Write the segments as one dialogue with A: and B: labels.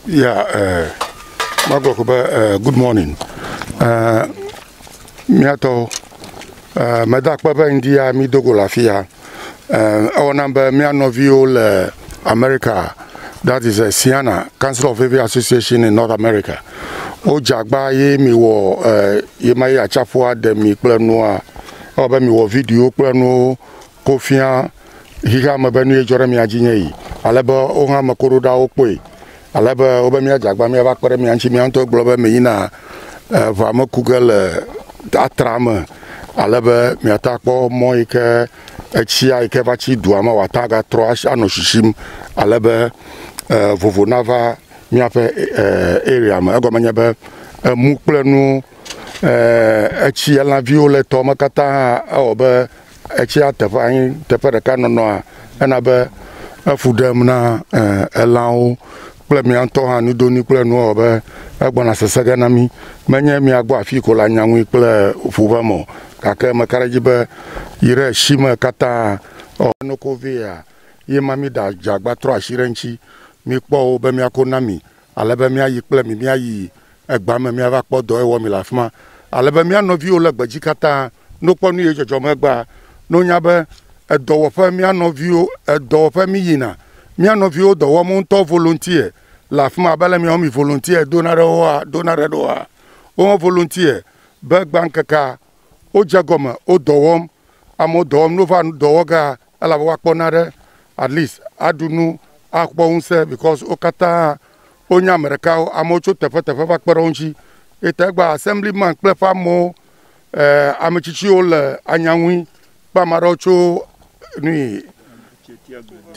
A: Yeah, uh, Magwa Kuba, uh, good morning. Uh, miatɔ uh, meda akpe be ŋdi ya mi dogo le afi ya. Uh, ewɔna be mia nɔviwo le America, that is uh, Siana, Council of Heavy Association in North America. Wodze agba ye mi wɔ uh, ye ma ye atsaƒua ɖe mi kple nua. Ewɔ be mi wɔ video kple nuwo Ko fia xexea me be nue dzɔ ɖe mia dzi nye yi, ale be wo hã ame koɖoɖawo kpɔe, ale be wobe míadze agba míava kpe ɖe mia ŋuti. Mia ŋutɔ egblɔ be meyina ʋea me ku ge le atra me, ale be miate akpɔ mɔ yi ke etsia yi ke va tsi dua me wòate agatrɔ anɔ shishim, ale be vovo nava míaƒe area me. Egɔme nye be emu kple nu etsi, elãviwo le tɔ me katã hã ewɔ be Etsia teƒe anyi teƒe ɖeka nɔnɔa ena be efu ɖem na elãwo kple mía ŋutɔ hã nudonui kple nuwo ewɔ be egbɔna sese ge na mí. Menye mía gbɔ afii ko la nya ŋui kple ŋu ʋe me o gake meka ɖe edzi be yi ɖe esi me katã ɔ, ne ko vea ye ma mí ɖa dze agba trɔ asi ɖe eŋuti. Míkpɔ wo be mía ko na mi ale be mía yi kple mi mía yi egbea me míava kpɔ dɔ ewɔ mi le afi ma. Ale be mía nɔviwo le gbedzi katã no kpɔ nu yi dzɔdzɔm egbea, no nya be edɔwɔƒe mía nɔviwo edɔwɔƒe mí yina. Mía nɔviwo dɔ wɔm ŋutɔ volontiɛ le afi ma abe le mía mi volontiɛ dona ɖe woa dona ɖe ɖoa wo hã volontiɛ be gbã ŋkekea wo dze gɔme wo dɔ wɔm. Amewo dɔ wɔm no va dɔ wɔ ga elabe woa kpɔ na ɖe at least aɖu nu akpɔ ŋusẽ because wo katã Wonya ame ɖekawo, amewo tso teƒeteƒe va kpe ɖe wo ŋuti. Eyi ta egba Assemblyman kple eƒe amewo, eh, ame tsitsiwo le anya ŋui kple ame aɖewo tso nui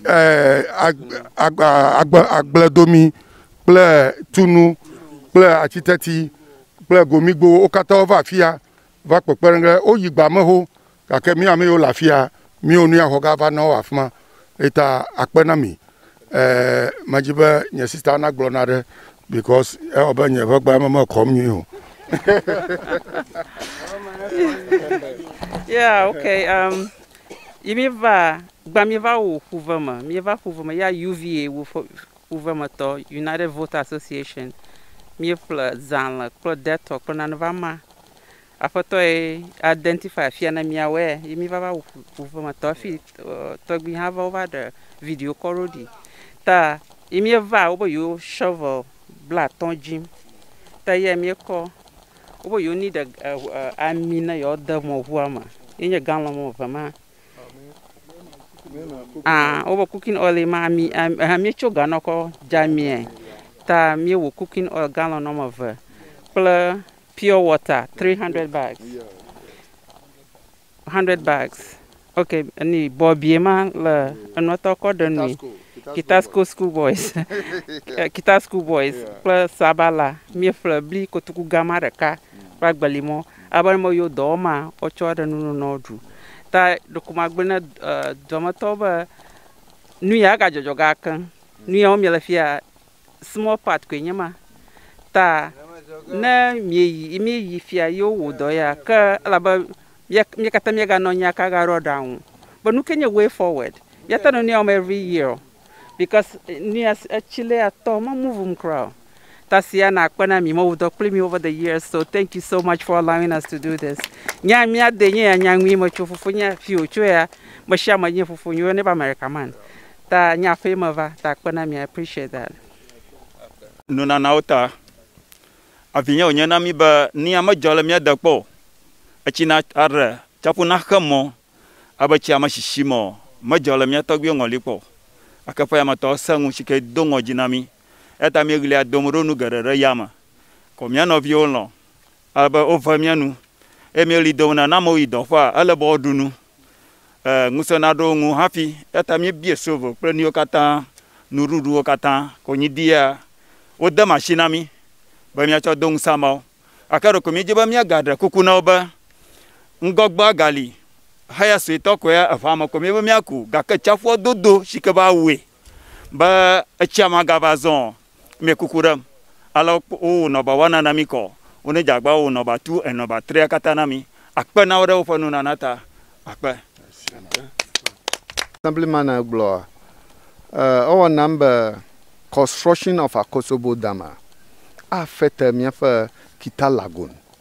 A: eh, agba, agba, agbledomi kple tunu kple atiteti kple gomigbowo. Wo katã wova afi ya va kpekpe ɖe ŋu. Woyi gbameho Gake mi ame yiwo le afi ya, miwo nu ya xɔ ge ava na wo afi ma. Eyi ta akpe na mi. Ɛɛ, medi be nye sista nagblɔ naɖe because ewɔ abe nye ʋegbe ya me mekɔm nyuie o. Yeah, okay, um, yi míeva, gbã míeva wo ƒuve me. Míeva ƒuve me ya UVA wo ƒe ƒuvemetɔ, United Voter Association. Míeƒle zãle kple Dettol kple nane va ma. Aƒetɔ ye identify afia ne miawɔe ye mi va va wu ƒu ƒome tɔ fi tɔgbi hã va wova ɖe video kɔ ɖo ɖi ta ye mi va wobe yewo shovel bla atɔ dzim ta ye mi kɔ wobe yewo ni ɖe ami ne yewo de mɔ ʋua me ye nye galɔn mɔ ve ma ah wobe cooking oil ma ami eh mi tso ganɔ kɔ dza mie ta mi wo cooking oil galɔn mɔ ve kple pure water 300 bags 100 bags ok ni bɔbie ma le enɔtɔ kɔ ɖe nui kitasco school boys eh, kita school boys kple sabala míeƒle bli kotoku gama ɖeka kple agbeli mɔ abe me yo dɔ ma wotsɔ ɖe nunu nɔ ɖu ta ɖokuma gblẽ ne eh, dɔmetɔ be nu ya gadzɔdzɔ gake nu ya wo miele fia small part koe nye ma ta ne mieyi mieyi fia ye wowɔ dɔ ya ke elabe mia katã mieganɔ anyi aka ga ɖo aɖaŋu be nu ke nye way forward miate nu wɔm every year o because nu ya etsi le ya tɔ me move ŋu kura o ta sia nakpe na mi mewɔ dɔ kpli mi over the years so thank you so much for allowing us to do this nya mia de nye ya nya nyui me tso fofo nye fi wotso ya me sia me nye fofo nye ne ba America man Ta nye aƒee me va ta kpe na mi I appreciate that. Nunanawo ta. Avinye wònye na mí be nuya medzɔ le mía de kpɔ o. Etsi na aɖe tsaƒu na xe mɔ abe tsia me sisi me o, medzɔ le mía tɔgbuiwo ŋɔli kpɔ o. Gake ƒe yametɔ sẽ ŋu tsike do ŋɔdzi na mí eya ta míeɣlia dom ɖo nu geɖe ɖe yame. Ko mía nɔviwo lɔ̃ ale be wovea mía nu eye míeɣli dom na ne amewo yi dɔƒea ele be woaɖu nu. eh, ŋusẽ naɖo wo ŋu hafi. Eya ta míebie sovo kple nuyiwo katã, nuɖuɖuwo katã, konyiɖia, wode ma asi na mí be míatsɔ do ŋusẽ ameawo. Gake ɖeko míedi be míagaɖe kuku na wo be ŋgɔgbea gali, heya suetɔ koe ya, eʋea me ko míebe míaku, gake tsiaƒua dodo si ke be awɔe be etsia magava zɔ Mɛ kuku ɖem, ale wokpɔ wowo nɔba wana na mí kɔ, wone djagba wowo nɔba tu enɔba trea kata na mí. Akpe na wo ɖe woƒe nunana ta. Akpe. Assemblyman gblɔ eh, ewɔ nam be construction of Akosobo Dam afe te miaƒe Kita Lagoon.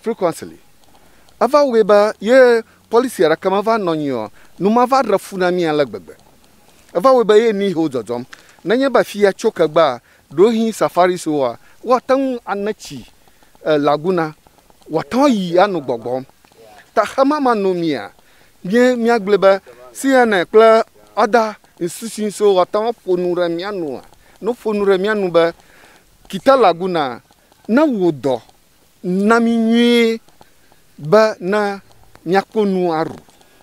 A: frequently. Eva wɔe be ye policy ɖeke meva nɔ anyi o, nu mava ɖe fu na mí ale gbegbe. Eva wɔe be ye ni he wodzɔdzɔm. Nenye be afia tso ke gbea, ɖewohĩ safaris woa, woate ŋu ane tsi e laguna wòate ŋu ayi ano gbɔgbɔm. Ta xemama no mía nye míagblɔe be CNN kple other institutions wo ate ŋu aƒo nu ɖe mía nua, ne woƒo nu ɖe mía nu be Kita Laguna ne wò dɔ Na mí nyuie be ne míakpɔ nu aɖu,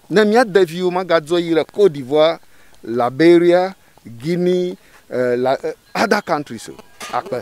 A: ne mía deviwo magadzɔ yi le Côte d'Ivoire, Liberia, Guinea, eh, la, eh, other countries o. Akpe.